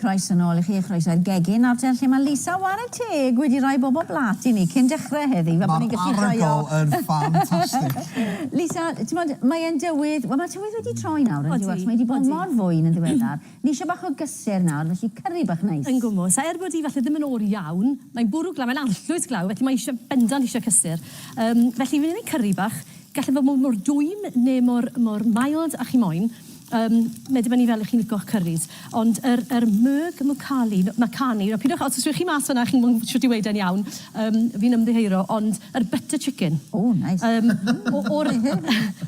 Croes yn ôl i chi, croes i'r gegin ar lle mae Lisa Warren Teg wedi rhoi bob o blat i ni cyn dechrau heddi. Fel bod ni'n gallu rhoi o... Mae'r yn ffantastig. Lisa, ti'n bod, mae'n dywydd, wel mae tywydd wedi troi nawr yn diwedd, mae wedi bod mor fwyn yn ddiweddar. Ni isio bach o gysur nawr, felly cyrri bach neis. Yn gwmws, a er bod hi falle ddim yn oer iawn, mae'n bwrw glaw, mae'n arllwys glaw, felly mae isio, bendant isio cysur. Yym, felly fi'n neud cyrri bach, gall e fod mor mor dwym ne mor mor mild a chi moyn. Yym, mae dibynnu fel 'ych chi'n licio'ch cyrris. Ond yr yr Merg Mucali, no, Makani, nawr pidwch, os rhowch chi mas fanna chi'n gwbo shwt i weud e'n iawn, yym, fi'n ymddiheuro, ond yr butter chicken. O, neis. Yym, o o'r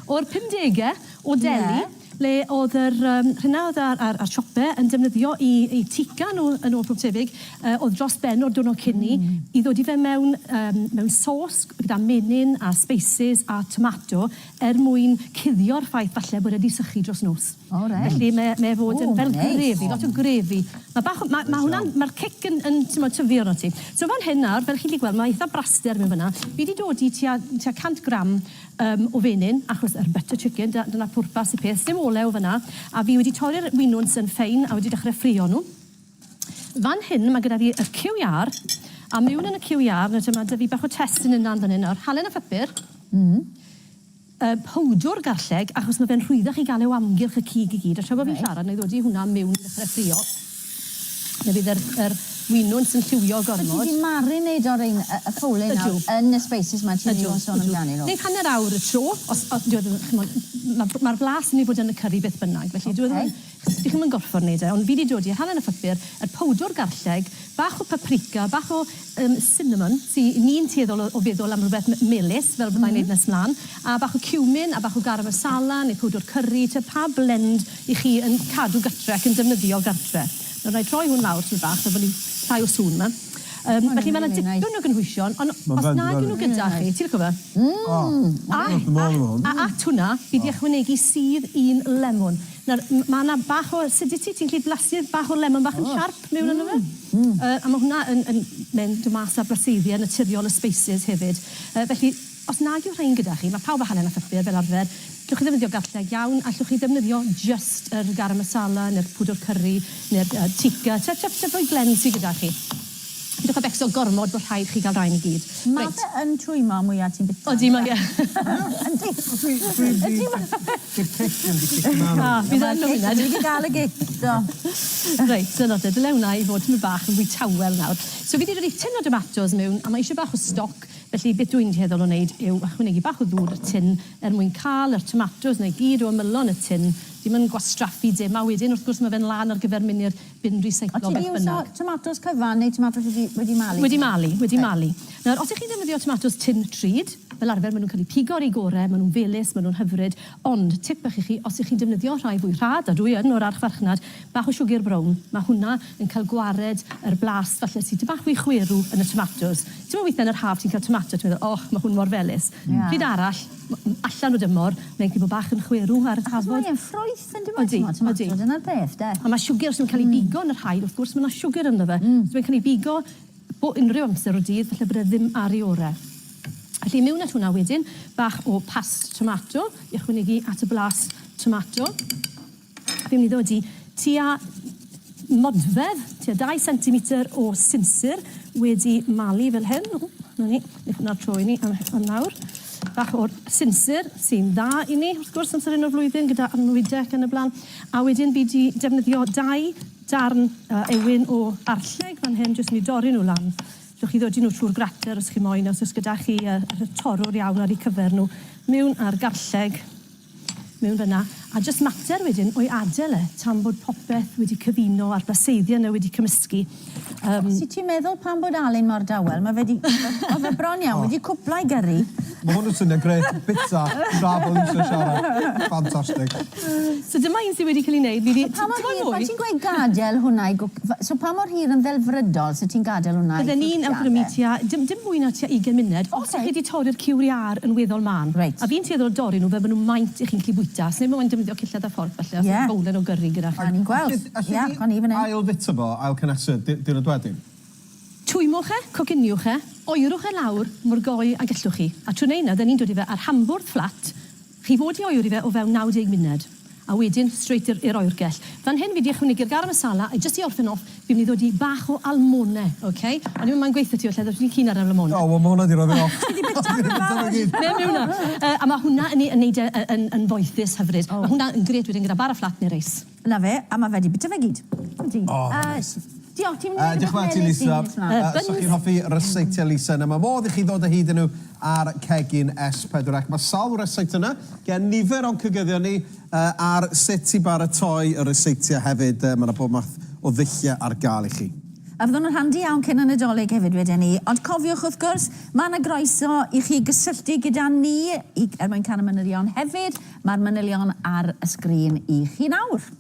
o'r pumdege o Delhi. Ie. ble oedd yr yym rhena oedd a'r a'r a'r siope yn defnyddio i i tiga nhw yn ôl pob tebyg yy oedd dros ben o'r diwrnod cyn 'ny i ddod i fe mewn yym mewn sos gyda menyn a sbeisys a tomato er mwyn cuddio'r ffaith falle bod e 'di sychu dros nos. O reit. Felly mae e mae e fod yn fel grefi lot o grefi. Ma' bach o ma' ma' hwnna'n ma'r cic yn yn t'mod tyfu arnot ti. So fan hyn nawr fel chi 'llu gweld ma' eitha braster mewn fyn 'na fi 'di dodi tua tua cant gram Yym, o fenyn, achos yr butter chicken, dyna, dyna pwrpas y peth. Sdim olew fan'na. A fi wedi torri'r winwns yn ffein a wedi dechre ffrio nhw. Fan hyn, ma' gyda fi yr cyw iâr, a miwn yn y cyw iâr, nawr te, ma' 'da fi bach o testyn yn lan fan hyn nawr. Halen a phupur. Mm. Yy, powdwr garlleg, achos ma' fe'n rhwyddach i ga'l e o amgylch y cig i gyd, a tra bo' fi'n siarad, 'na i ddodi hwnna miwn i ddechre ffrio. Fe fydd yr yr winwns yn lliwio gormod. So ti 'di marinate o'r rein- yy y ffoulée nawr... Ydw. ...yn y species 'ma ti newydd sôn amdanyn nhw? Ydw, ydw. Neith hanner awr y tro os o- dyw e ddim ch'mod ma' ma'r blas yn myn' i fod yn y cyrri beth bynnag felly dyw e ddim yn... Oce. ...chi ddim yn gorffod neud e ond fi 'di dodi rhan yn y pupur, y powdwr garlleg, bach o paprika, bach o Yym cinnamon. Sy ni'n tueddol o o feddwl am rwbeth m- melys fel fyddai'n neud nes mlan. A bach o cumin a bach o garam masala neu powdwr cyrri, t'wod pa blend 'ych chi yn cadw gartre ac yn defnyddio gartre. Nawr na'i droi hwn lawr tipyn bach fel bo' ni llai o sŵn 'ma. Yym felly ma' 'na dipyn o gynhwysion on' os nag 'yn nw gyda chi, ti lico fe? Mmm! O! A a a at hwnna fi 'di ychwanegu sudd un lemwn. Nawr m- ma' 'na bach o acidity, ti'n gallu blasu'r bach o lemon bach yn siarp? mewn yno fe. Hmm. Yy a ma' hwnna yn yn mynd mas â braseiddiau naturiol y species hefyd. Yy felly os nag yw rhain gyda chi, ma' pawb â hanner a phypïau fel arfer, gallwch chi ddefnyddio gallheg iawn, allwch chi ddefnyddio jyst yr garam masala ne'r pwdwr cyrri ne'r yy tikka, te te te rhoi blend sy gyda chi. Pidwch â becso gormod bo' rhaid chi ga'l rain i gyd. Reit. Ma' fe yn twymlo mwya ti'n bita. Odi mae e. Yndi. Dwi dwi 'di Di'r pris ddim di cicio mlan o. Fi ddim yn hwnna. Dwi di gael y gic, do. Reit, dyna fe. Dyle hwnna i fod tipyn bach yn fwy tawel nawr. So fi di dodi tin o domatos mewn a mae eisiau bach o stoc, felly beth dw i'n dueddol o wneud yw ychwanegu bach o ddŵr i'r tin er mwyn cael yr tomatos na i gyd o ymylon y tin. Dim yn gwastraffu dim. A wedyn wrth gwrs mae fe'n lan ar gyfer mynd i'r Bin recyclo, beth bynnag. O't ti 'di iwso tomatos cyfan neu tomatos wedi, wedi malu? Wedi malu, wedi malu. Nawr, os 'ych chi'n defnyddio tomatos tun trud, fel arfer ma' nhw'n cael eu pigo ar eu gore, ma' nhw'n felys, ma' nhw'n hyfryd, ond tip bach i chi, os 'ych chi'n defnyddio rhai fwy rhad, a dwi yn o'r archfarchnad, bach o siwgr brown, ma' hwnna yn cael gwared yr blas falle sy tipyn bach fwy chwerw yn y tomatos. Timod weithiau yn yr haf ti'n cael tomato, ti'n meddwl, och, ma' hwn mor felys. Pryd arall, allan o dymor, mae'n gallu bod bach yn chwerw ar y tafod. Achos mae e'n ffrwyth. Sai'n dwbod t'mod t'mod t'mod dyna'r peth 'de. A ma' siwgr sy'n cael ei bigo yn yr haul wrth gwrs ma' 'na siwgr ynddo fe. Hmm. So mae'n cael ei bigo bo- unryw amser o'r dydd falle bod e ddim ar ei ore'. Felly miwn at hwnna wedyn, bach o past tomato i ychwanegu at y blas tomato. Fi'n myn' i ddod i tua Modfedd, tua dau sentimetr o sinsir wedi malu fel hyn. O, na ni, ni hwnna'r tro i ni am, am nawr. Bach o'r sinsir sy'n dda i ni, wrth gwrs, amser un o'r flwyddyn gyda arnwyde ac yn y blaen. A wedyn bydd di defnyddio dau darn uh, ewyn o arlleg fan hyn, jyst ni dorri nhw lan. Llwch chi ddodi nhw trwy'r grater os chi moyn, os oes gyda chi uh, torrwr iawn ar eu cyfer nhw. Mewn ar garlleg, mewn fyna, a jyst mater wedyn o'i adel e tan bod popeth wedi cyfuno a'r baseiddion e wedi cymysgu. Yym. Os wyt ti'n meddwl pam bod Alun mor dawel, mae fe 'di... oedd fe bron iawn, wedi cwpla ei gyrru. Mae hwn yn swnio'n grêt, bita tra bod Lisa yn siarad. Ffantastig. So dyma un sydd wedi cael ei wneud, fi 'di... Pa mor hir, pan ti'n gweud gadael hwnna i gwc- f- so pa mor hir yn ddelfrydol 'set ti'n gadael hwnna i cwcio de? Bydden i'n awgrymu tua, dim dim mwy na tua ugain munud, os 'y chi 'di torri'r cewriau ar yn weddol mân. Reit. A fi'n tueddol o dorri nhw fel ma' nhw maint i chi'n gallu bwyta. Sneb moyn defnyddio cillad a fforc falle os odd bowlen o gyrri gyda chi. O'n i'n gweld. Ia, o'n i fan 'yn. Ail fita fo, ail cynhesu diwrnod wedyn? Twymwch e, cociniwch e, oerwch e lawr mor goe a gellwch chi. A trwy neud 'na, 'da ni'n dod i fe ar hambwrdd fflat, chi fod i oeri fe o fewn 90 munud. A wedyn straight i'r i'r oergell. Fan hyn fi 'di ychwanegu'r garam masala a jyst i orffen off fi myn' i ddod i bach o almone ok? O'n i'm yn gweutho ti falle oddach chdi'n keen ar yr almone. O wel ma' hwnna 'di roi fi off. Ti 'di bita fe nawr! Mewn yw 'wnna. Yy a ma' hwnna yn ei yn neud e yy yn yn foethus hyfryd. O. Ma' hwnna yn grêt wedyn gyda bar o fflat ne' reis. 'Na fe, a ma' fe 'di bita fe gyd. Ydi. O reit. Yy. Diolch, ti'n mynd i wneud rhywbeth melys i mis 'ma? Yy, byswn i'n hoffi ryseitiau Lisa na mae modd i chi ddod o hyd i nhw ar cegin S4 ac mae sawl ryseit yna gen nifer o'n cygyddion ni yy ar sut i baratoi y ryseitiau hefyd yy mae 'na bob math o ddulliau ar gael i chi. A fyddwn yn handi iawn cyn y Nadolig hefyd weden i, ond cofiwch wrth gwrs, mae 'na groeso i chi gysylltu gyda ni i er mwyn canu manylion hefyd, mae'r manylion ar y sgrin i chi nawr.